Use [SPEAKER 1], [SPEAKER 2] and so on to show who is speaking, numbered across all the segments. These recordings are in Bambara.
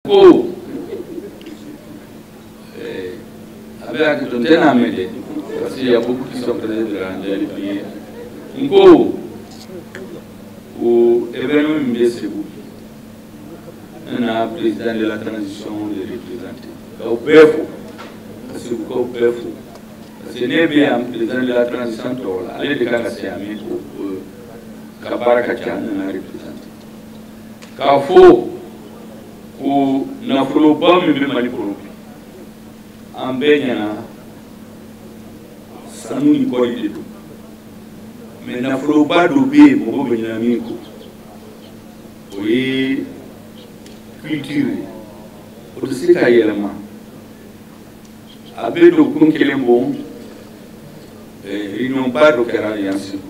[SPEAKER 1] ko eh, aw bɛ hakɛ to n tɛna mɛn dɛ parce que y a beaucoup qui sont présents de la prière n ko o événement min bɛ segu n na président de la transition de représenter k'aw bɛɛ fo ka segukaw bɛɛ fo parce que ne bɛ yan président de la transition tɔgɔ la ale de kan ka se yan mais comme a ka baara ka ca n nana représenter k'a fɔ ko nafoloba min bɛ mali kɔnɔ bi an bɛɛ ɲɛna sanu ni kɔɔri de don mais nafoloba dɔ bɛ yen mɔgɔw bɛ ɲina min kɔ o ye culture ye o tɛ se ka yɛlɛma a bɛ dɔgɔkun kelen bɔ eh, réunion ba dɔ kɛra yan segu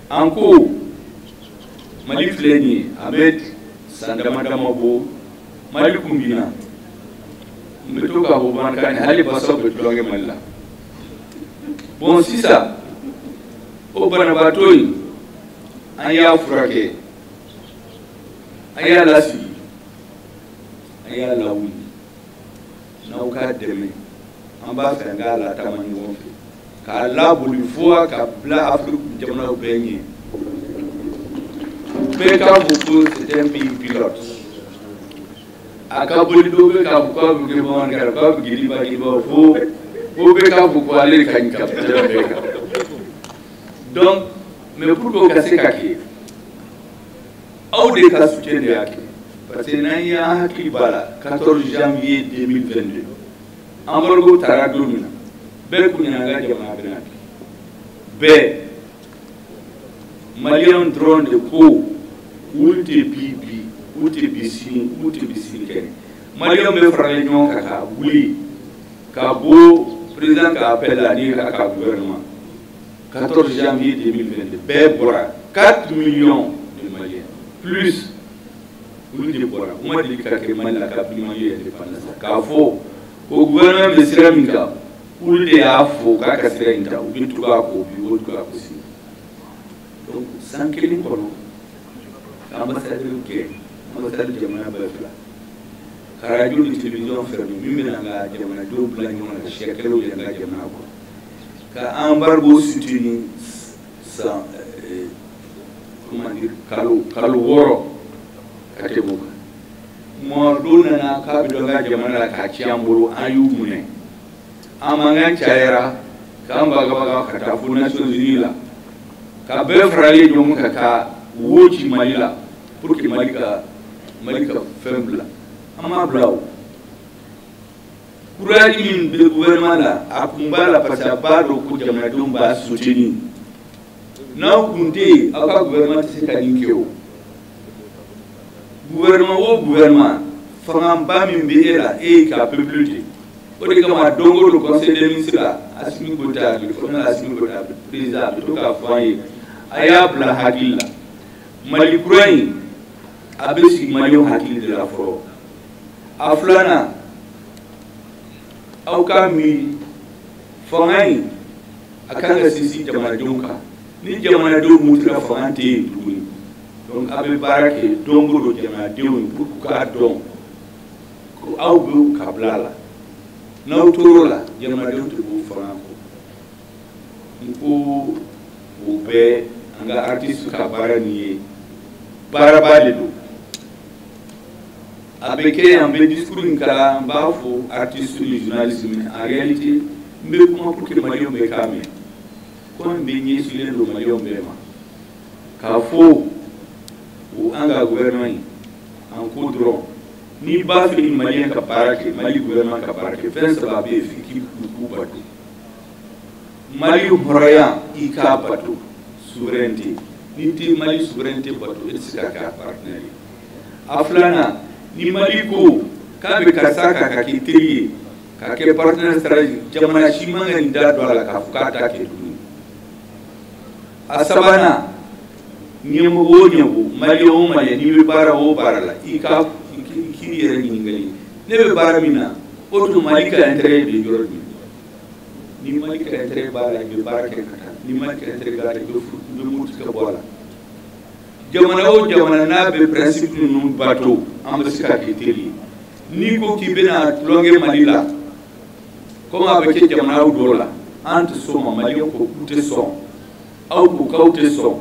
[SPEAKER 1] an ko mali filɛ nin ye a bɛ san dama dama bɔ mali kun binna n bɛ to k'a fɔ bamanankan na hali basaw bɛ tulonkɛ mali la bon sisan o banabaatɔ in an y'a furakɛ an y'a lasigi an y'a lawuli n'aw ka dɛmɛ an b'a fɛ an k'a latama ɲɔgɔn fɛ k'a laboli fo k'a bila afiriki jamanaw bɛɛ ɲɛ bɛɛ k'a fɔ ko c'est un pays pilote a ka boli dɔw bɛ k'a fɔ k'a bɛ kɛ bamanankara k'a bɛ giriba giriba fo fo bɛɛ k'a fɔ ko ale de ka ɲi ka tɛmɛ bɛɛ kan donc mais pour que o ka se ka kɛ aw de ka soutien de y'a kɛ parce que n'an hakili b'a la 14 janvier 2022 embargo tara don min na bɛɛ kun ɲɛna an ka jamana bɛna bin bɛɛ maliyɛnw dɔrɔn de ko olu tɛ bin bi olu tɛ bin sini olu tɛ bin sinikɛnɛ maliyɛnw bɛɛ faralen ɲɔgɔn kan ka wuli ka bɔ président ka appel la ni a ka gouvernement 14 janvier 2022 bɛɛ bɔra 4 millions de maliens plus olu de bɔra o ma deli ka kɛ mali la kabini mali ye indépendance k'a fɔ ko gouvernement bɛ sira min kan olu de y'a fɔ k'a ka sira in ta u bɛ tugu a kɔ u bɛ tugu a kɔ si donc san kelen kɔnɔ ka ambassadeur gɛn ambassadeur jamanaba fila ka radio ni télévision fermer min bɛna an ka jamanadenw bila ɲɔgɔn na siya kɛlɛw de an ka jamana kɔnɔ ka embargo soutenir san comment dire, kalo wɔɔrɔ ka tɛmɛ o kan mɔgɔ dɔw nana k'a bɛ don an ka jamana la k'a ci an bolo an y'u minɛ an mankan cayara k'an bagabaga ka taa fo nations unies la ka bɛɛ faralen ɲɔgɔn kan ka taa wo ci mali la pour que mali ka mali ka fɛn bila an m'a bila o courage min bɛ gouvernement la a kun b'a la parce que a b'a dɔn ko jamanadenw b'a soutenir n'aw kun tɛ yen aucun gouvernement tɛ se ka nin kɛ o gouvernement o gouvernement fangaba min bɛ e la e y'i ka peuple de o de kama don o don conseil des ministres la Assimi Goïta le colonel Assimi Goïta président a bɛ to k'a fɔ an ye a y'a bila hakili la Mali kura in a bɛ sigi maliyɛnw hakili de la fɔlɔ. a filanan aw ka miiri fanga in a kan ka sinsin jamanadenw kan ni jamanadenw murutira fanga tɛ yen tuguni donc a bɛ baara kɛ don o don jamanadenw ye pour k'a dɔn ko aw bɛ u ka bila la n'aw tor'o la jamanadenw tɛ bɔ fanga kɔ n ko o bɛɛ an ka artiste ka baara nin ye baaraba de don a bɛ kɛ yan n bɛ discours in kalan n b'a fɔ artiste ni journaliste mais en réalité n bɛ kuma pour que maliyɛnw bɛɛ k'a mɛn kuma in bɛɛ ɲɛsinnen don maliyɛnw bɛɛ ma k'a fɔ ko an ka gouvernement in an ko dɔrɔn n'i b'a fɛ ni maliyɛn ka baara kɛ mali gouvernement ka baara kɛ fɛn saba bɛ yen f'i k'i k'u bato mali hɔrɔnya i k'a bato souveraineté n'i tɛ mali souveraineté bato i tɛ se ka kɛ a partenaire ye a filanan ni mali ko k'a bɛ karisa ta k'a kɛ teri ye k'a kɛ partenaire stratégique jamana si man ka n'i da don a la k'a fɔ k'a t'a kɛ tuguni a sabanan ɲɛmɔgɔ o ɲɛmɔgɔ maliyɛn o maliyɛn n'i bɛ baara o baara la i ka k'i yɛrɛ ɲininka yali ne bɛ baara min na o tuma mali ka intérêt bɛ yɔrɔ min ni mali ka intérêt b'a la i bɛ baara kɛ ka taa ni mali ka intérêt t'a la i bɛ muruti ka bɔ a la jamana o jamana n'a bɛ principe ninnu bato an bɛ se ka kɛ teri ye n'i ko k'i bɛna tulonkɛ mali la komi a bɛ kɛ jamanaw dɔw la an tɛ sɔn o ma maliyɛnw ko k'u tɛ sɔn aw ko k'aw tɛ sɔn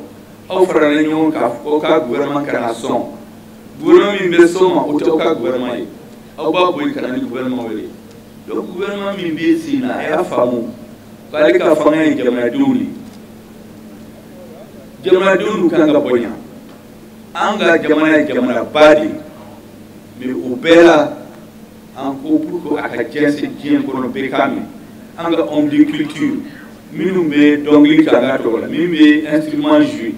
[SPEAKER 1] aw farala ɲɔgɔn kan k'aw ka gouvernement kana sɔn gouvernement min bɛ sɔn o ma o tɛ aw ka gouvernement ye aw b'a bɔ yen ka na ni gouvernement wɛrɛ ye donc gouvernement min bɛ sen na a y'a faamu k'ale ka fanga ye jamanadenw de ye jamanadenw kan ka bonya an ka jamana ye jamanaba de ye mais o bɛɛ la encore pour que a ka jɛnsɛn diɲɛ kɔnɔ bɛɛ k'a mɛn an ka homme de culture minnu bɛ dɔnkili kɛ an ka tɔgɔ la min bɛ instrument jouer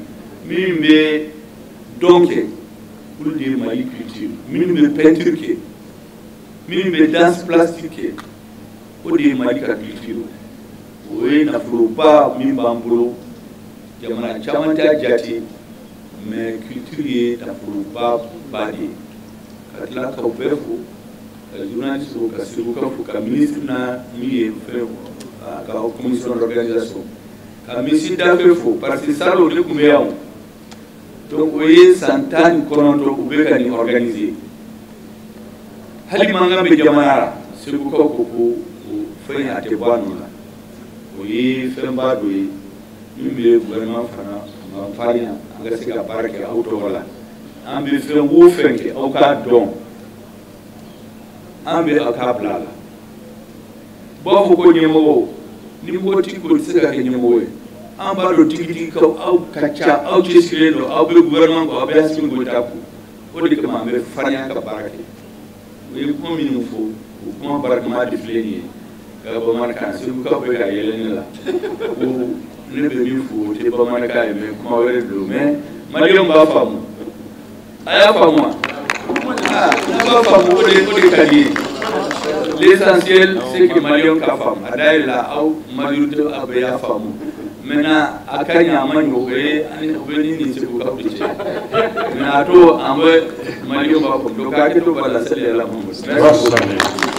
[SPEAKER 1] min bɛ dɔn kɛ olu de ye mali culture minnu bɛ peinture kɛ min bɛ danse plastique kɛ o de ye mali ka culture o ye nafoloba min b'an bolo jamana caman t'a jate mais culture ye nafoloba ba de ye ka tila ka bɛɛ fo ka journaliste fo ka segukaw fo ka ministre na min ye fɛn a ka commission d'organisation ka monsieur Daffé fo parce que salon ne tun bɛ yan donc o ye san tan ni kɔnɔntɔn u bɛ ka nin organiser hali mankan bɛ jamana la segukaw ko ko o fɛn a tɛ bɔ a nɔ la o ye fɛnba dɔ ye min bɛ gouvernement fana farinya an ka se ka baara kɛ aw tɔgɔ la an bɛ fɛn o fɛn kɛ aw k'a dɔn an bɛ a ka bila la u b'a fɔ ko ɲɛmɔgɔ ni mɔgɔ t'i kɔ i tɛ se ka kɛ ɲɛmɔgɔ ye an b'a dɔn tigitigi ko aw ka ca aw cɛsirilen don aw bɛ gouvernement kɔ aw bɛ Asimi Goyita kɔ o de kama an bɛ farinya ka baara kɛ u ye kuma minnu fɔ o kuma barakama de filɛ nin ye n ka bamanankan segukaw bɛ ka yɛlɛ ne la ko ne bɛ min fɔ o tɛ bamanankan ye mais kuma wɛrɛ don mais maliyɛnw b'a faamu a y'a faamu wa n'a b'a faamu o de o de ka di ye l'essentiel c'est que maliyɛnw k'a faamu a dayɛlɛla aw majorité a bɛɛ y'a faamu maintenant a ka ɲi a man ɲi o bɛ o bɛ ne ni segukaw bɛɛ cɛ maintenant a to an bɛ maliyɛnw b'a faamu donc hakɛ to b'a la seli yɛlɛma merci beaucoup